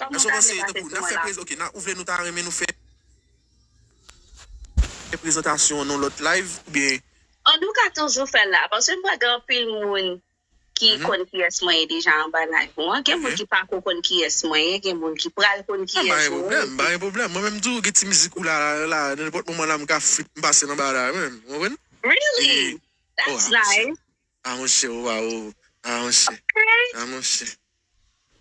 Kòman sa ale nan tèt mwen la? Ok ou vle nou ta renmen nou fè prezantasyon an yon lòt live ou byen. An nou ka toujou fèl la paske m wè gen anpil moun ki konn kiyès mwen ye deja anba live ou an gen moun ki pako konn kiyès mwen ye gen moun ki pral konn kiyès ou ye. M pa gen pwoblèm, m pa gen pwoblèm mwen menm tou gen ti mizik ou la la nenpòt moman la m ka feat m pase anba la mwen menm ou konprann? Really? That's nice. Ah monchè ou waw ou ah monchè ah monchè.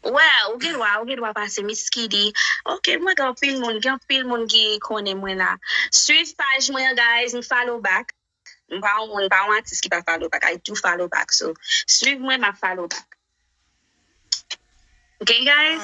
Well ou gen dwa ou gen dwa pase Miss Kidy ok mwen gen anpil moun gen anpil moun ki konnen mwen la swiv paj mwen an guys m follow back m pa yon moun m pa yon atis ki pa follow back I do follow back so swiv mwen map follow back ok guys.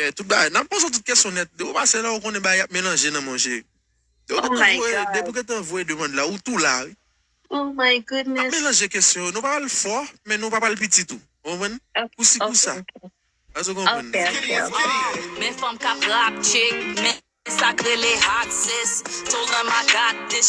Yè tout bagay nap poze tout kesyon nèt depi ou pase la ou konnen bagay ap melanje nan mon cheri depi ou gentan voye depi ou gentan voye demand la ou tou la wi nap melanje kesyon yo nou pa pral fò men nou pa pral piti tou ou konprann kou si kou sa eske ou konprann nan.